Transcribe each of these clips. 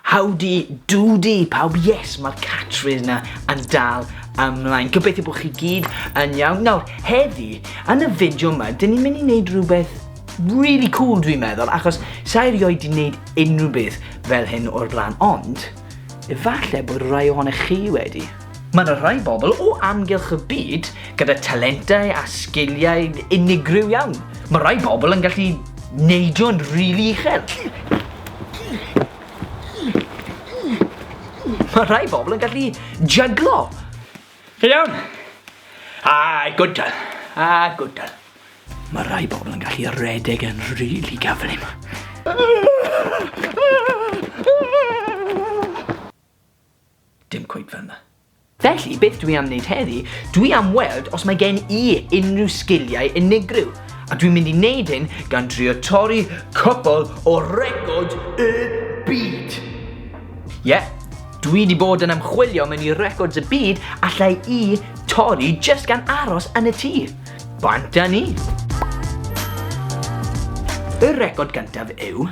Howdy doody pawb, yes mae'r catchphrase na yn dal ymlaen. Gobeithio bod chi gyd yn iawn. Nawr, heddi, yn y fideo yma, dyn ni'n mynd i wneud rhywbeth really cool dwi'n meddwl, achos sa'i rioed di wneud unrhyw beth fel hyn o'r blaen, ond efallai bod rhai ohonych chi wedi. Mae 'na rai bobl o amgylch y byd gyda talentau a sgiliau unigryw iawn. Mae rai bobl yn gallu neidio'n rili uchel. Mae rai bobl yn gallu jyglo. Chi'n iawn? Ai, good girl. Ah, good girl. Mae rai bobl yn gallu redeg yn rili gyflym. Dim cweit fel 'na. Felly, beth dwi am wneud heddi, dwi am weld os mae gen i unrhyw sgiliau unigryw, a dwi'n mynd i wneud hyn gan drio torri cwpl o records y byd! Ie, dwi 'di bod yn ymchwilio mewn i records y byd allai i torri jyst gan aros yn y tŷ. Bant â ni! Y record gyntaf yw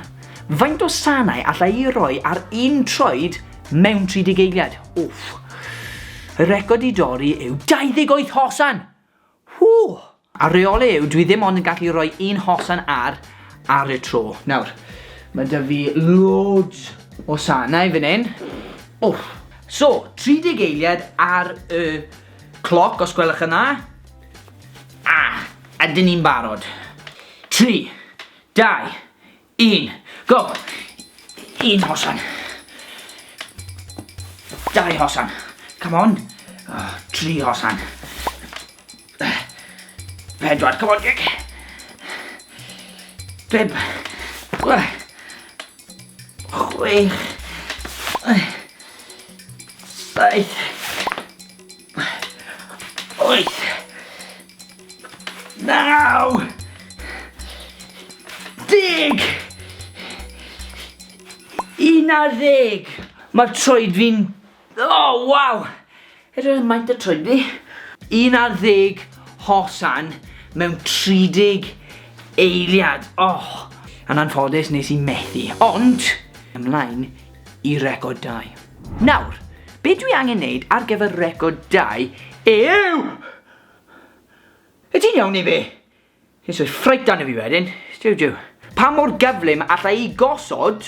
Faint o sanau alla i roi ar un troed mewn 30 eiliad? Wff. Y record i dorri yw 28 hosan! Whoo! A reole yw, dwi ddim ond yn gallu rhoi un hosan ar ar y tro. Nawr, mae da fi loads o sanau fan hyn. Wff. So, 30 eiliad ar y cloc, os gwelwch yn dda. A, ydyn ni'n barod. 3, Dau, un, go! Un hosan. Dau hosan. Come on. Oh, tri hosan. Pedwar, come on, Dick. Pib. Chwech. Saith. Wyth. Naw. Deg. Un ar ddeg. Mae troed fi'n... O, oh, waw. Edrych yn maint y troed fi. Un ar ddeg hosan mewn 30 eiliad. Oh. Yn anffodus nes i methu. Ond, ymlaen i record dau. Nawr, be dwi angen neud ar gyfer record dau yw... Wyt ti'n iawn neu be? Ti'n soi ffrait arno fi wedyn, jiw jiw. Pa mor gyflym alla i gosod,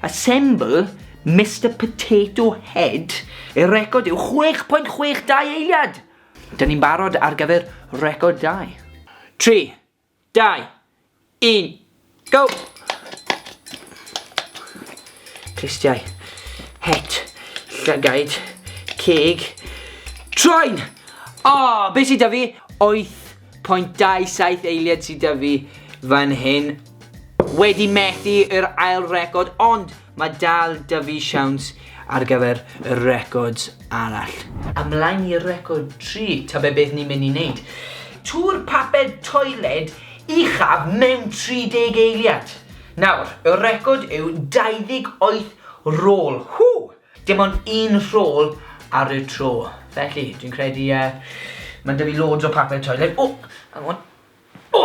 assemble, Mister Potato Head i record yw 6.62 eiliad! Dyn ni'n barod ar gyfer record dau. Tri, 2, 1, go! Clustiau, het, llygaid, ceg, troen! O, oh, be sydd da fi? 8.27 eiliad sydd da fi fan hyn. Wedi methu yr ail record, ond Mae dal 'da fi siawns ar gyfer y records arall. Ymlaen i record 3, ta be beth ni'n mynd i wneud? Tŵr papur toiled uchaf mewn 30 eiliad! Nawr, y record yw 28 rôl, hŵ! Dim ond un rhôl ar y tro. Felly, dwi'n credu yy, mae'n 'da fi loads o papur toiled, o! Hang on. O!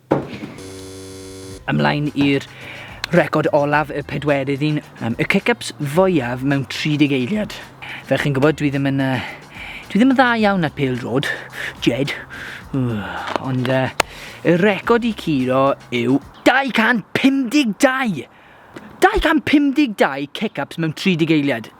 Ymlaen i'r record olaf, y pedwerydd un, y kick-ups fwyaf mewn 30 eiliad. Fel chi'n gwybod, dwi ddim yn... Uh, dwi ddim yn dda iawn ar pêl drod, Jed. Uh, ond uh, y record i curo yw 252! 252 kick-ups mewn 30 eiliad.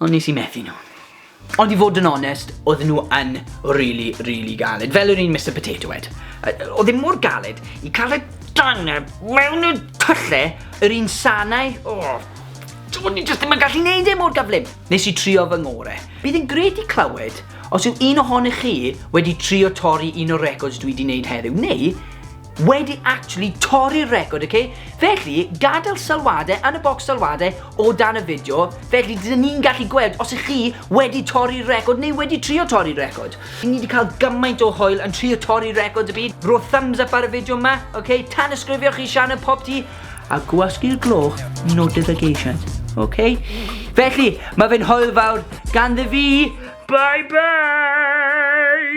Ond nes i methu nhw. Ond i fod yn onest, oedden nhw yn really, really galed. Fel yr un Mr Potato Head. Oedd e mor galed i cael y daneb mewn y tylle yr un sanau. Oh, O'n i jyst ddim yn gallu neud e mor gyflym. Nes i trio fy ngore. Bydd yn gret i clywed os yw un ohonych chi wedi trio torri un o'r records dwi di neud heddiw, neu wedi actually torri'r record, ok? Felly, gadael sylwadau yn y bocs sylwadau o dan y fideo, felly dyn ni'n gallu gweld os ych chi wedi torri'r record neu wedi trio torri'r record. Ni wedi cael gymaint o hwyl yn trio torri'r record y byd. Ro thumbs up ar y fideo yma, ok? Tan ysgrifio chi Sianel Pop Ti a gwasgu'r gloch notifications, ok? Felly, mae fe'n hwyl fawr ganddi fi. Bye bye!